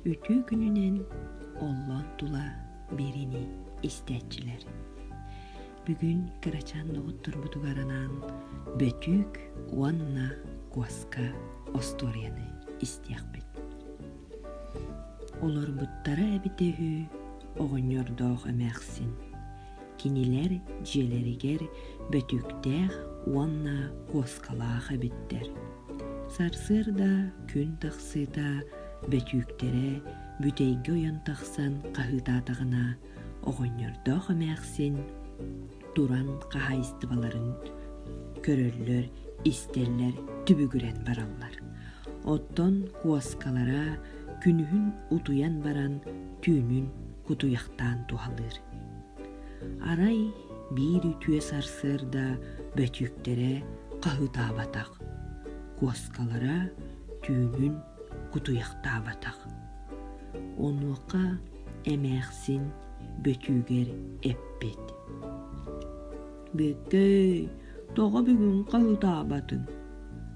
үтүө күнүнэн оллоон тула биэриини истээччилэр бүгүн кырачаан доҕотторбутугар анаан бөтүүк уонна куоска остуоруйаны истиэхпит олорбуттара эбитэ үһү оҕонньордоох эмээхсин кинилэр дьиэлэригэр бөтүктээх уонна куоскалаах эбиттэр. Сарсыарда күн тахсыыта бөтүүктэрэ бүтэйгэ ойон тахсан хаһыытаатаҕына оҕонньордоох эмээхсин туран хаһаайыстыбаларын көрөллөр, истэллэр, түбүгүрэн бараллар. Оттон куоскалара күнүһүн утуйан баран түүнүн кутуйахтаан туһалыыр. Арай биир үтүө сарсыарда бөтүүктэрэ хаһыытаабатах, куоскалара түүгүн кутуйахтаабатах. Онуоха эмээхсин бөтүүгэр эппит. Бүөккэй, тоҕо бүгүн хаһыытаабатыҥ?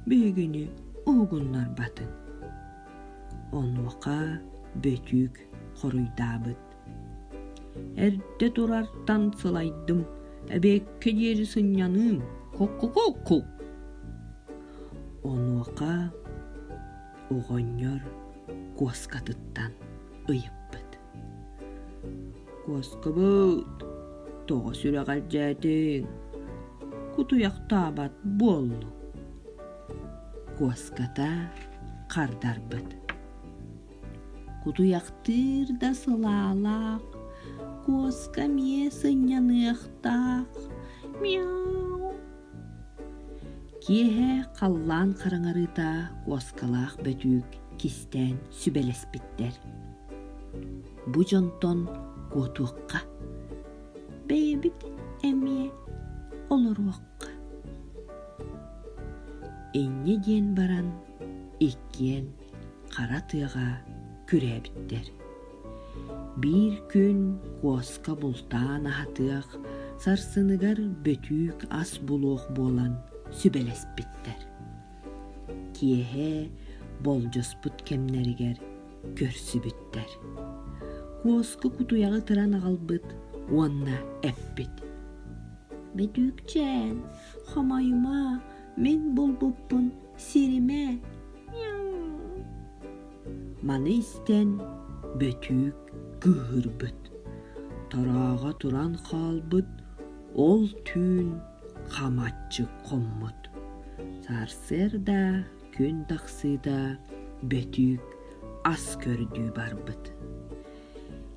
Биһигини уһугуннарбатын. Онуоха бөтүүк хоруйдаабыт. Эрдэ турартан сылайдым, эбэккэ диэри сынньаныым, кукку-кукку. Онуоха оҕонньор куоскатыттан ыйыппыт. Куоскабыт, тоҕо сүрэҕэлдьээтиҥ? Кутуйахтаабат буоллу. Куоската хардарбыт. Кутуйахтыыр да сылаалаах, куоска миэ сынньаныахтаах. Мяу. Киэһэ халлаан хараҥарыыта куоскалаах бөтүүк кистээн сүбэлэспиттэр. Бу дьонтон куотуохха, бэйэбит эмиэ олоруохха. Инньэ диэн баран иккиэн хара тыаҕа күрээбиттэр. Биир күн куоска бултаан аһатыах, сарсыныгар бөтүүк ас булуох буолан сүбэлэспиттэр. Киэһэ болдьоспут кэмнэригэр көрсүбүттэр. Куоска кутуйаҕы тыран аҕалбыт уонна эппит. «Бөтүүкчээн, хомойума, мин булбуппун сиримэ, Маны истэн Бөтүүк кыыһырбыт, турааҕа туран хаалбыт ол түүн хамаччы хоммут. Сарсыарда күн тахсыыта Бөтүүк ас көрдүү барбыт.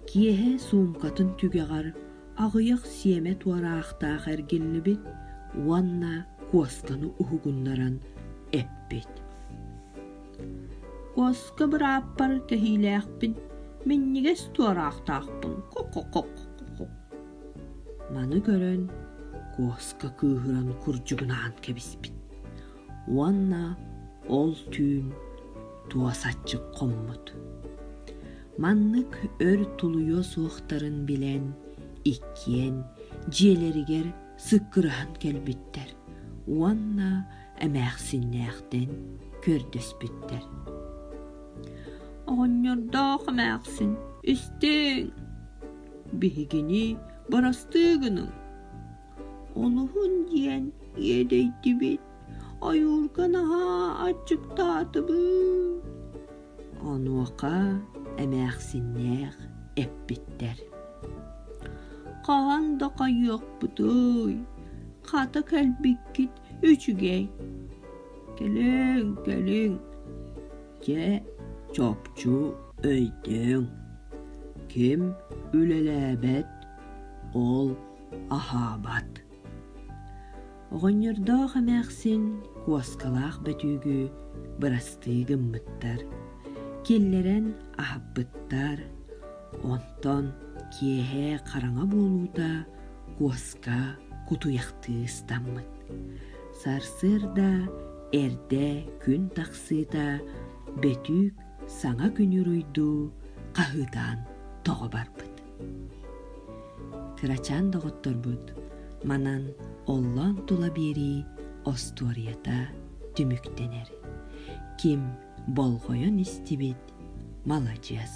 Киэһэ суумкатын түгэҕэр аҕыйах сиэмэ туораахтаах эргиллибит уонна куосканы уһугуннаран эппит куоска бырааппар кэһиилээхпин минньигэс туораахтаахпын ко-ко-ко-ко маны көрөн куоска кыыһыран курдьугунаан кэбиспит уонна ол түүн туосаччык хоммут Маннык өр тулуйуо суохтарын билэн, иккиэн дьиэлэригэр сыккыраһан кэлбиттэр уонна эмээхсиннээхтэн көрдөспүттэр. «Оҕонньордоох эмээхсин, истиҥ! Биһигини барастыы гыныҥ!» Олуһун диэн иэдэйдибит. Ойуурга наһаа аччыктаатыбыт. Онуоха эмээхсиннээх эппиттэр. Хаһан да хайыахпытый, хата кэлбиккит үчүгэй. Кэлиҥ, кэлиҥ. Дьэ, чопчу өйдөҥ. Ким үлэлээбэт, ол аһаабат. Оҕонньордоох эмээхсин куоскалаах бөтүүгү бырастыы гыммыттар, киллэрэн аһаппыттар, онтон киэһэ хараҥа буолуута куоска кутуйахтыы ыстаммыт. Сарсыарда эрдэ күн тахсыыта бөтүүк саҥа күнү уруйдуу хаһыытаан тоҕо барбыт. кырачаан доҕотторбут манан оллоон тула биэрии остуоруйата түмүктэнэр ким болҕойон истибит маладьыас